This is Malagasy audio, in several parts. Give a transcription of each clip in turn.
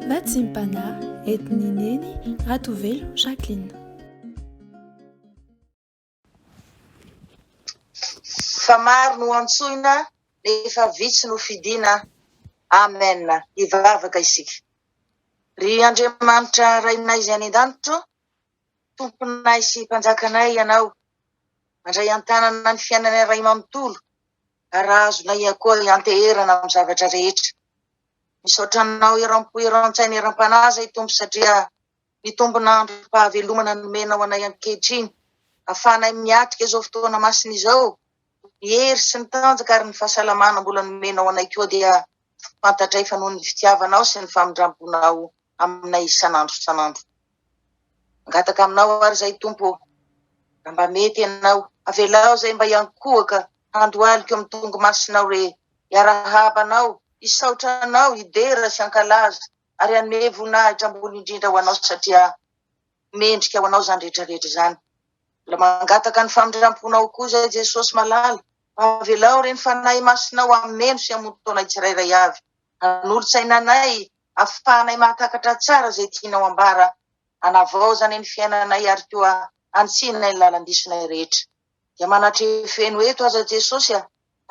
Natsimpana, entin'i Neny Ratovelo Jacqueline. Fa maro no antsoina nefa vitsy no fidina Amen Hivavaka isika Ry Andriamanitra Rainay Izay any an-danitra o Tomponay sy Mpanjakanay Ianao Mandray an-tanana ny fiainanay Ray manontolo Raha azonao ihany koa hianteherana amin'ny zavatra rehetra. Misaotra anao eram-po, eran-tsaina, eram-panahy zay Tompo satria mitombona androm-pahavelomana nomenao anay ankehitriny. Afahanay miatrika izao fotoana masina izao. Ny hery sy ny tanjaka ary ny fahasalamana mbola nomenao anay koa dia fantatray fa noho ny fitiavanao sy ny famindram-ponao aminay isan'andro isan'andro. Mangataka aminao ary izay Tompo ô, raha mba mety ianao, avelao izay mba hiankohoka handohaliko amin'ny tongo masinao re, hiarahaba anao, hisaotra anao, hidera sy hankalaza ary hanome voninahitra ambony indrindra ho anao satria mendrika ho anao izany rehetra rehetra izany. Mbola mangataka ny famindramponao koa izay Jesosy malala, mba avelao re ny Fanahy Masinao hameno sy hamono taonay tsirairay avy, hanolo-tsaina anay afahanay mahatakatra tsara izay tianao hambara, hanavaozanay ny fiainanay ary koa hanitsinay ny lalan-disonay rehetra. Dia manatrefy eno eto aza Jesosy a!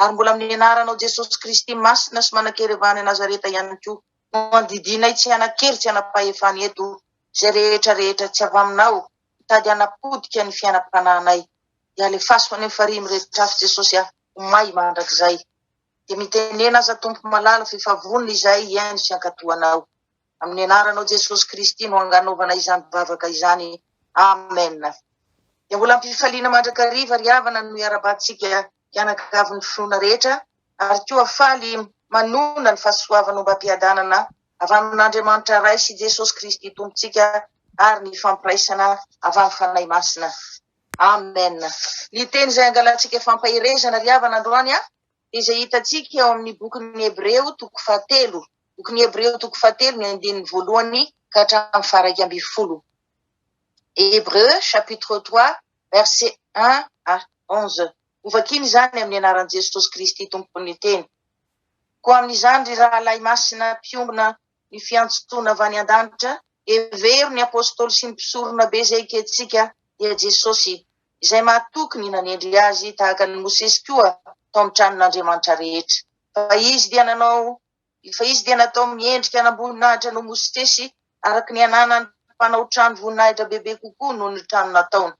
Ary mbola amin'ny anaranao Jesosy Kristy masina sy manan-kerevany any Nazareta ihany koa no andidinay tsy hanan-kery tsy hanam-pahefana eto izay rehetra rehetra tsy avy aminao mitady hanapotika ny fiainam-panahinay. Dia alefaso any amin'ny farihy miretrafy Jesosy a! Homay mandrakizay. Dia mitenena aza Tompo malala f'efa vonona izahay hihaino sy hankato Anao. Amin'ny Anaranao Jesosy Kristy no anganaovana izany vavaka izany. Amen. Dia mbola am-pifaliana mandrakariva ry havana no iarabahantsika mpianakavy ny finoana rehetra ary koa faly manonona ny fahasoavan'ombam-piadanana avy amin'Andriamanitra Ray sy Jesosy Kristy Tompontsika ary ny ifampiraisana avy amin'ny Fanahy Masina. Amen! Ny teny izay angalantsika fampaherezana ry havana androany dia izay hitantsika eo amin'ny bokin'ny Hebreo toko fahatelo, bokin'ny Hebreo toko fahatelo ny andininy voalohany ka hatramin'ny faharaika ambin'ny folo. Hebreu chapitre 3 verset 1 à 11. Hovakina izany amin'ny anaran'i Jesosy Kristy Tompon'ny teny. Koa amin'izany ry rahalahy masina mpiombona ny fiantsontona avy any an-danitra, Hevero ny Apôstôly sy ny Mpisoronabe izay ekentsika dia Jesosy, izay mahatoky ny nanendry Azy tahaka an'i Mosesy koa tao amin'ny tranon'Andriamanitra rehetra. Fa Izy dia nanao, fa Izy dia natao miendrika an'amboninahitra noho Mosesy, araka ny ananany mpanao trano voninahitra bebe kokoa noho ny trano nataony.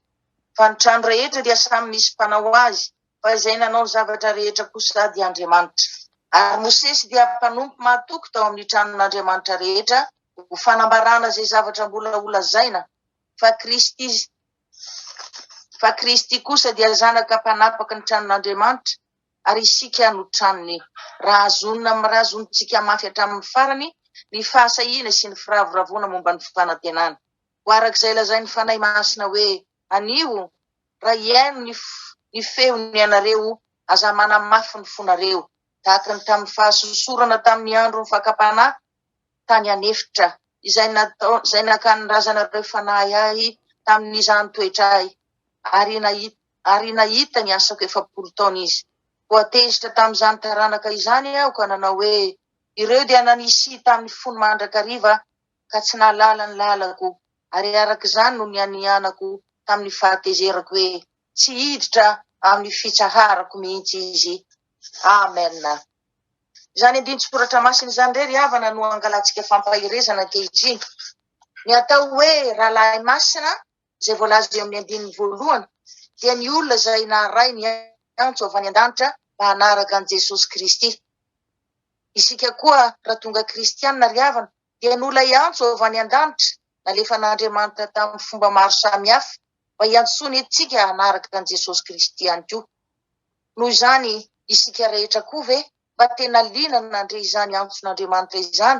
Fa ny trano rehetra dia samy misy mpanao azy, Fa izay nanao ny zavatra rehetra kosa dia Andriamanitra. Ary Mosesy dia mpanompo mahatoky tao amin'ny tranon'Andriamanitra rehetra ho fanambarana izay zavatra mbola holazaina, fa Kristy, fa Kristy kosa dia zanaka mpanapaka ny tranon'Andriamanitra, ary isika no tranony, raha zonona amin'ny ra zonontsika mafy hatramin'ny farany ny fahasahiana sy ny firavoravoana momba ny fanantenana. ho araka izay lazain'ny Fanahy Masina hoe, Anio, raha hihaino ny, ny feony ianareo, aza manamafy ny fonareo, tahaka ny tamin'ny fahasosorana tamin'ny andron'ny fakam-panahy tany an'efitra, izay natao, izay naka ny razanareo fanahy Ahy tamin'izany toetr'Ahy, ary nahita, ary nahita ny asako efapolo taona izy. Voatezitra tamin'izany taranaka izany Aho ka nanao hoe, Ireo dia nanisihy tamin'ny fony mandrakariva, ka tsy nahalala ny lalako, ary araka izany no nianianako tamin'ny fahatezerako hoe, tsy hiditra amin'ny fitsaharako mihitsy izy. Amen. Izany andinin-tsoratra masina izany indray ry havana no angalantsika fampaherezana ankehitriny. Ny atao hoe rahalahy masina, izay voalaza eo amin'ny andininy voalohany, dia ny olona izay naharay ny antso avy any an-danitra mba hanaraka an'i Jesosy Kristy. Isika koa raha tonga kristiana ry havana, dia noho ilay antso avy any an-danitra nalefan'Andriamanitra tamin'ny fomba maro samihafa mba hiantsoany antsika hanaraka an'i Jesosy Kristy ihany koa. Noho izany, isika rehetra koa ve mba tena liana nandre izany antson'Andriamanitra izany?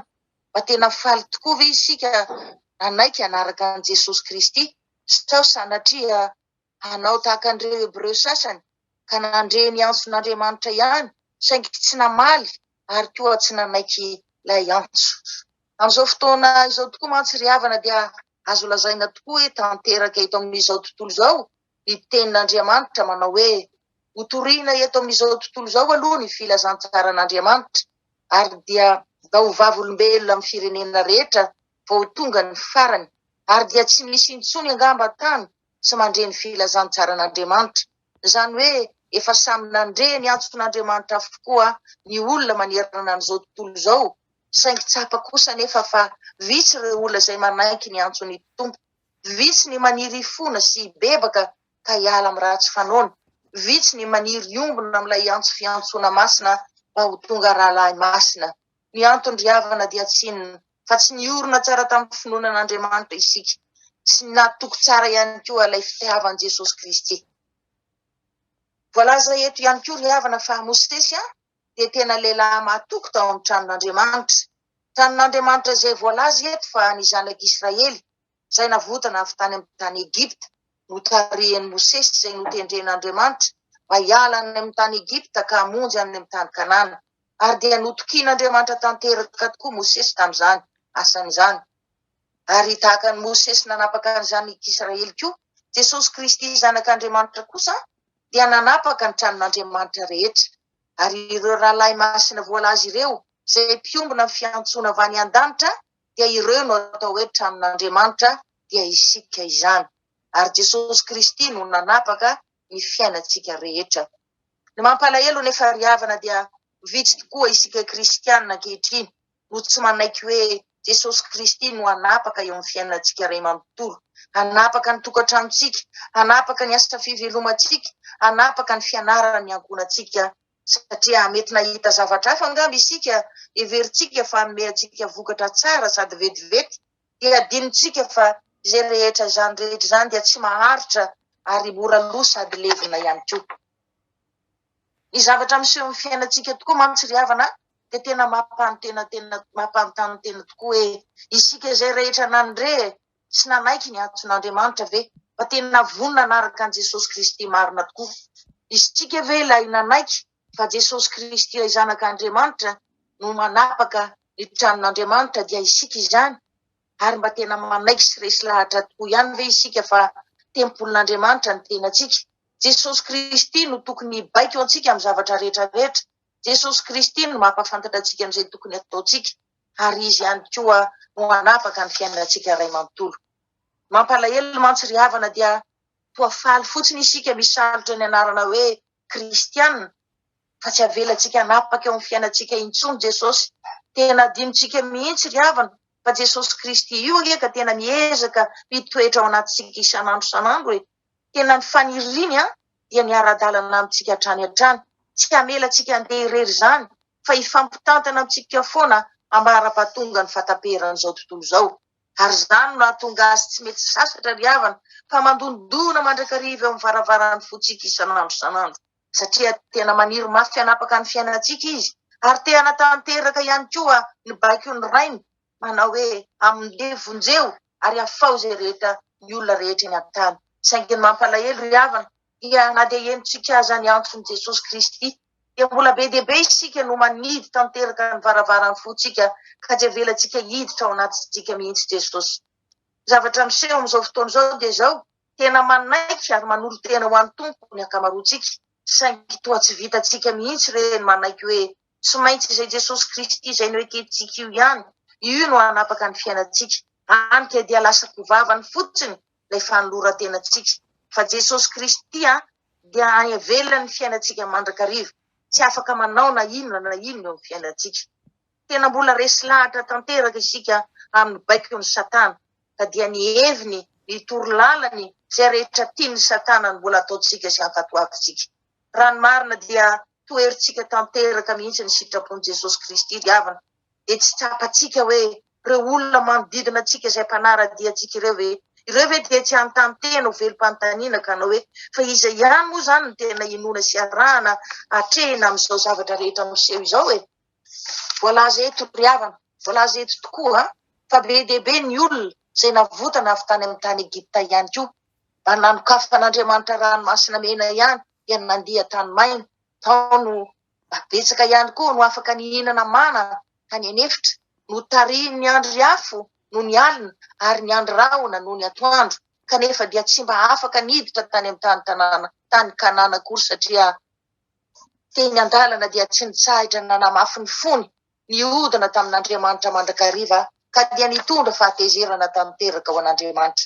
Mba tena faly tokoa ve isika nanaiky hanaraka an'i Jesosy Kristy, sao sanatria hanao tahaka an'ireo Hebreo sasany ka nandre ny antson'Andriamanitra ihany saingy tsy namaly ary koa tsy nanaiky ilay antso. Amin'izao fotoana izao tokoa mantsy ry havana dia azo lazaina tokoa hoe tanteraka eto amin'izao tontolo izao ny tenin'Andriamanitra manao hoe hotorina eto amin'izao tontolo izao aloha ny filazantsaran'Andriamanitra ary dia da ho vavolombelona amin'ny firenena rehetra vao tonga ny farany ary dia tsy misy intsony angamba tany tsy mandre ny filazantsaran'Andriamanitra. Izany hoe efa samy nandre ny antson'Andriamanitra avokoa ny olona manerana an'izao tontolo izao, saingy tsapa kosa anefa fa vitsy ireo olona izay manaiky ny antson'ny Tompo. Vitsy ny maniry hifona sy hibebaka ka hiala amin'ny ratsy fanaony. Vitsy ny maniry hiombona amin'ilay antso fiantsoana masina mba ho tonga rahalahy masina. Ny anton-dry havana dia tsy inona fa tsy niorina tsara tamin'ny finoana an'Andriamanitra isika, sy ny natoky tsara ihany koa ilay fitiavan'i Jesosy Kristy. Voalaza eto ihany koa ry havana fa Mosesy dia tena lehilahy mahatoky tao amin'ny tranon'Andriamanitra. Tranon'Andriamanitra izay voalaza eto fa ny zanak'Israely izay navotana avy tany amin'ny tany Egypta, notarihin'i Mosesy izay notendren'Andriamanitra mba hiala any amin'ny tany Egypta ka hamonjy any amin'ny tany Kanana. Ary dia notokian'Andriamanitra tanteraka tokoa Mosesy tamin'izany asany izany. Ary tahaka an'i Mosesy nanapaka an'izanyk'Israely koa, Jesosy Kristy Zanak'Andriamanitra kosa dia nanapaka ny tranon'Andriamanitra rehetra. Ary ireo rahalahy masina voalaza ireo, izay mpiombona ny fiantsoana avy any an-danitra, dia ireo no atao hoe tranon'Andriamanitra, dia isika izany, ary Jesosy Kristy no nanapaka ny fiainantsika rehetra. Ny mampalahelo anefa ry havana dia vitsy tokoa isika kristiana ankehitriny no tsy manaiky hoe Jesosy Kristy no hanapaka eo amin'ny fiainantsika iray manontolo, hanapaka ny tokantranontsika, hanapaka ny asa fivelomantsika, hanapaka ny fianaran'ny ankohonantsika Satria mety nahita zavatra hafa angamba isika, heverintsika fa hanome antsika vokatra tsara sady vetivety, dia adinontsika fa izay rehetra izany rehetra izany dia tsy maharitra ary mora lo sady levona ihany koa. Ny zavatra miseho amin'ny fiainantsika tokoa mantsy ry havana dia tena mampanontena tena mampanontany tena tokoa hoe isika izay rehetra nandre Tsy nanaiky ny antson'Andriamanitra ve? Fa tena vonona hanaraka an'i Jesosy Kristy marina tokoa isika ve ilay nanaiky fa Jesosy Kristy ilay Zanak'Andriamanitra no manapaka ny tranon'Andriamanitra dia isika izany? Ary mba tena manaiky sy resy lahatra tokoa ihany ve isika fa tempolin'Andriamanitra ny tenantsika? Jesosy Kristy no tokony hibaiko antsika amin'ny zavatra rehetra rehetra. Jesosy Kristy no mampahafantatra antsika an'izay tokony hataontsika. ary Izy ihany koa no hanapaka ny fiainantsika iray manontolo. Mampalahelo mantsy ry havana dia toa faly fotsiny isika misalotra ny anarana hoe kristiana fa tsy avelantsika hanapaka eo amin'ny fiainantsika intsony Jesosy. Tena adinontsika mihitsy ry havana fa Jesosy Kristy io anie ka tena miezaka mitoetra ao anatintsika isan'andro isan'andro e. Tena ny faniriany dia ny ara-dalana amintsika hatrany hatrany. Tsy hamela antsika handeha irery izany fa hifampitantana amintsika foana ambara-pahatonga ny fahataperan'izao tontolo izao. Ary izany no nahatonga azy tsy mety sasatra ry havana fa mandondona mandrakariva eo amin'ny varavaran'ny fontsika isan'andro isan'andro, satria tena maniry mafy hanapaka ny fiainantsika izy ary te hanatanteraka ihany koa ny baikon'ny Rainy Manao hoe, Amin'ly vonjeo ary afaho izay rehetra ny olona rehetra eny an-tany. Saingy ny mampalahelo, ry havana, dia na dia henontsika aza ny antson'i Jesosy Kristy, dia mbola be dia be isika no manidy tanteraka ny varavaran'ny fontsika ka tsy avelantsika hiditra ao anatintsika mihitsy Jesosy. Ny zavatra miseho amin'izao fotoana izao dia izao, tena manaiky ary manolo-tena ho an'ny Tompo ny ankamaroantsika, saingy toa tsy vitantsika mihitsy re ny manaiky hoe Tsy maintsy izay Jesosy Kristy izay noekentsika io ihany, Io no hanapaka ny fiainantsika. Any ka dia lasa goavany fotsiny ilay fanoloran-tenantsika. Fa Jesosy Kristy dia havelany ny fiainantsika mandrakariva, tsy afaka manao na inona na inona eo amin'ny fiainantsika. Tena mbola resy lahatra tanteraka isika amin'ny baikon'i Satana, ka dia ny heviny, ny toro lalany, izay rehetra tian'i Satana no mbola ataontsika sy ankatoavintsika. Raha ny marina dia toherintsika tanteraka mihitsy ny sitrapon'i Jesosy Kristy diavina, dia tsy tsapantsika hoe ireo olona manodidina antsika izay mpanara-dia antsika ireo ve? Ireo ve dia tsy hanontany tena ho velom-panontaniana ka hanao hoe, fa iza ihany moa izany no tena inoana sy arahana atrehina amin'izao zavatra rehetra miseho izao e? Voalaza eto ry havana, voalaza eto tokoa fa be dia be ny olona izay navotana avy tany amin'ny tany Egypta ihany koa, Ary nanokafan'Andriamanitra ranomasina mena ihany dia nandia tany maina, tao no mba betsaka ihany koa no afaka nihinana mana tany an'efitra, notarihin'ny andro ry afo noho ny alina ary ny andry rahona noho ny atoandro, kanefa dia tsy mba afaka niditra tany amin'ny tany tanàna, tany Kanana akory satria teny an-dalana dia tsy nitsahatra nanamafy ny fony nihodina tamin'Andriamanitra mandrakariva ka dia nitondra fahatezerana tanteraka ho an'Andriamanitra.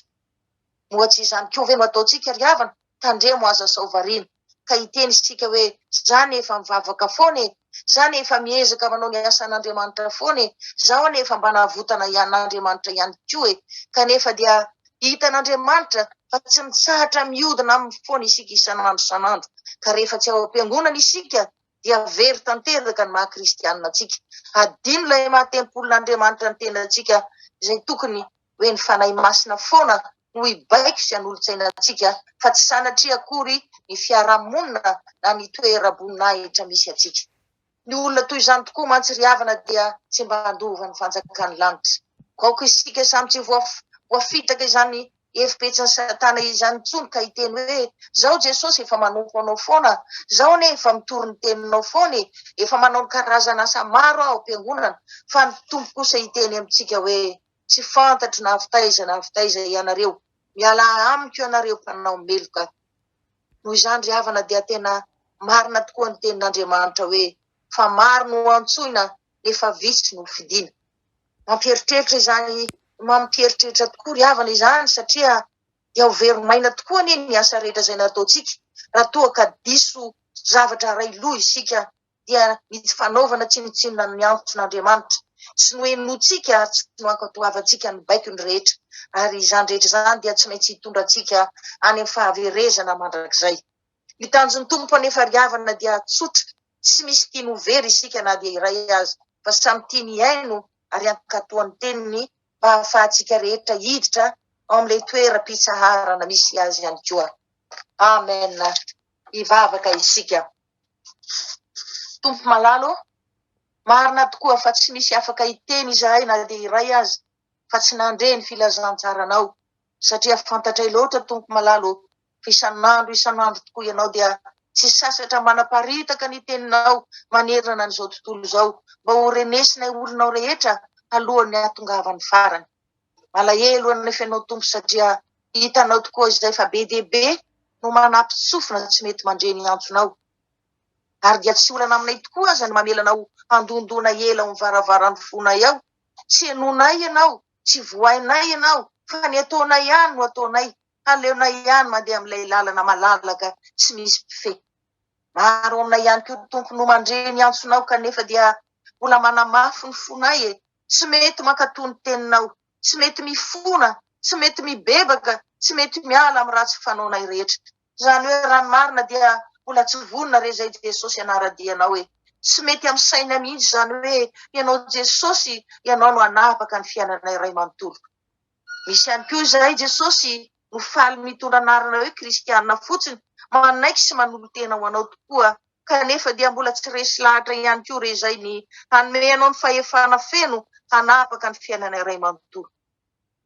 Moa tsy izany koa ve no ataontsika ry havana? Tandremo aza sao variana ka hiteny isika hoe, za anie efa mivavaka foana e! Za anie efa miezaka manao ny asan'Andriamanitra foana e! Zaho anie efa mba nahavotana an'Andriamanitra ihany koa e! Kanefa dia hitan'Andriamanitra fa tsy mitsahatra miodina aminy foana isika isan'andro isan'andro ka rehefa tsy ao am-piangonana isika dia very tanteraka ny maha kristianina antsika. Hadino ilay maha tempolin'Andriamanitra ny tenantsika izay tokony hoe ny Fanahy Masina foana no hibaiko sy hanolotsaina antsika fa tsy sanatria akory ny fiarahamonina na ny toeram-boninahitra misy antsika. Ny olona toy izany tokoa mantsy ry havana dia tsy mba handova ny fanjakan'ny lanitra. Ko aoka isika samy tsy ho voafitraka izany Hevi-petsin'i Satana izany intsony ka hiteny hoe, Izao Jesosy efa manompo anao foana, izao anie efa mitory ny teninao foana e, efa manao ny karazan'asa maro aho am-piangonana, fa ny Tompo kosa hiteny amintsika hoe, Tsy fantatro na avy taiza na avy taiza ianareo, mialà amiko ianareo mpanao meloka. Noho izany ry havana dia tena marina tokoa ny tenin'Andriamanitra hoe, Fa maro no antsoina nefa vitsy no fidina. Mampieritreritra izany mampieritreritra tokoa ry havana izany satria dia ho very maina tokoa anie ny asa rehetra izay nataontsika raha toa ka diso zavatra aray loha isika dia ny tsy fanaovana tsinontsinona ny antson'Andriamanitra sy nohenointsika ary tsy nohankatoavantsika ny baikony rehetra ary izany rehetra izany dia tsy maintsy hitondra antsika any amin'ny fahaverezana mandrakizay. Ny tanjon'ny Tompo hanefa ry havana dia tsotra, tsy misy tiany ho very isika na dia iray aza, fa samy tiany hihaino ary hankato ny teniny mba hahafahantsika rehetra hiditra ao amin'ilay toeram-pitsaharana misy Azy ihany koa. Amen! Hivavaka isika. Tompo malala ô, marina tokoa fa tsy misy afaka hiteny izahay na dia iray aza fa tsy nandre ny filazantsaranao. satria fantatray loatra tompoko malala ô fa isan'andro isan'andro tokoa ianao dia tsy sasatra manaparitaka ny teninao manerana an'izao tontolo izao mba ho renesinay olonao rehetra alohan'ny hahatongavan'ny farany malahelo anay fenao tompo satria hitanao tokoa izay fa be dia be no manapitsofina tsy mety mandre ny antsonao ary dia tsy olana aminay tokoa aza ny mamelanao handondona ela ao ny varavaran'ny fonay ao tsy enonay ianao Tsy vohainay ianao, fa ny ataonao ihany no ataonay, haleonay ihany mandeha amin'ilay lalana malalaka tsy misy mpifehy. Maro aminay ihany koa Tompo no mandre ny antsonao kanefa dia mbola manamafy ny fonay e, tsy mety mankatò ny teninao, tsy mety mifona, tsy mety mibebaka, tsy mety miala amin'ny ratsy fanaonay rehetra. Izany hoe raha ny marina dia mbola tsy vonona re izay Jesosy hanara-dia anao e! Tsy mety amin'ny saina mihitsy izany hoe ianao Jesosy ianao no hanavaka ny fiainana iray manontolo. Misy ihany koa izay Jesosy no faly mitondra anarana hoe kristiana fotsiny, manaiky sy manolo-tena ho anao tokoa, kanefa dia mbola tsy resy lahatra ihany koa re izay ny hanome anao ny fahefana feno hanavaka ny fiainana iray manontolo.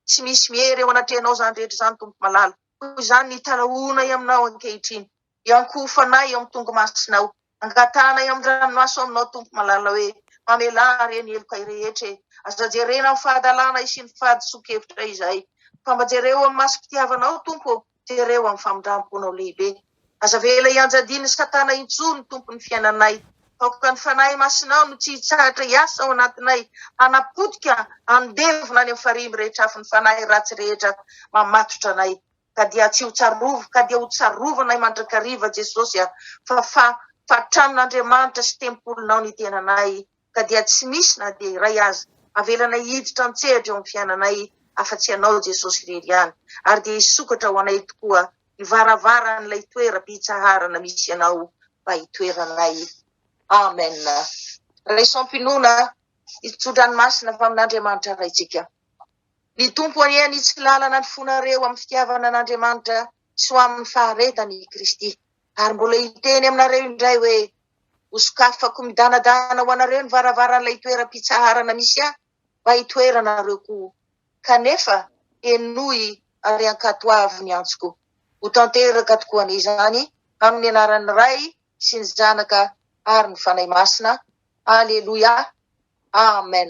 Tsy misy miery eo anatrehanao izany rehetra izany Tompo malala. Koa izany ny tarahonay aminao ankehitriny, iankoho fanahy eo amin'ny tongomasinao, angatahanay amin'ny ranomaso aminao Tompo malalao e, mamelà re ny helokay rehetra e, aza jerena amin'ny fahadalanay sy ny fahadisoan-kevitray izay, fa mba jereo amin'ny masom-pitiavanao Tompo ô, jereo amin'ny famindram-ponao lehibe. Aza avela hianjadian'i Satana intsony, Tompo, ny fiainanay. Aoka ny Fanahy Masinao no tsy hitsahatra hiasa ao anatinay, hanapotika, handevona any amin'ny farihy mirehitr'afon'ny fanahy ratsy rehetra mamatotra anay. Ka dia tsy ho tsarovy, ka dia ho tsarovanay mandrakariva, Jesosy a! Fa fa, fa tranon'Andriamanitra sy tempolinao ny tenanay. ka dia tsy misy na dia iray aza avelanay hiditra an-tsehatra eo amin'ny fiainanay afa-tsy Ianao Jesosy irery ihany, ary dia hisokatra ho anay tokoa ny varavaran'ilay toeram-pitsaharana misy Ianao mba hitoeranay. Amen. Raisom-pinoana, hitsotra ny masina fa amin'Andriamanitra Raintsika. Ny Tompo anie hanitsy lalana ny fonareo amin'ny fitiavana an'Andriamanitra sy ho amin'ny faharetan'I Kristy. Ary mbola hiteny aminareo indray hoe, Hosokafako midanadana ho anareo ny varavaran'ilay toeram-pitsaharana misy ahy mba hitoerana anareo koa. Kanefa, henoy ary ankatoavy ny antsoko. Ho tanteraka tokoa anie izany, amin'ny anaran'ny Ray sy ny Zanaka ary ny Fanahy Masina. Aleloia. Amen.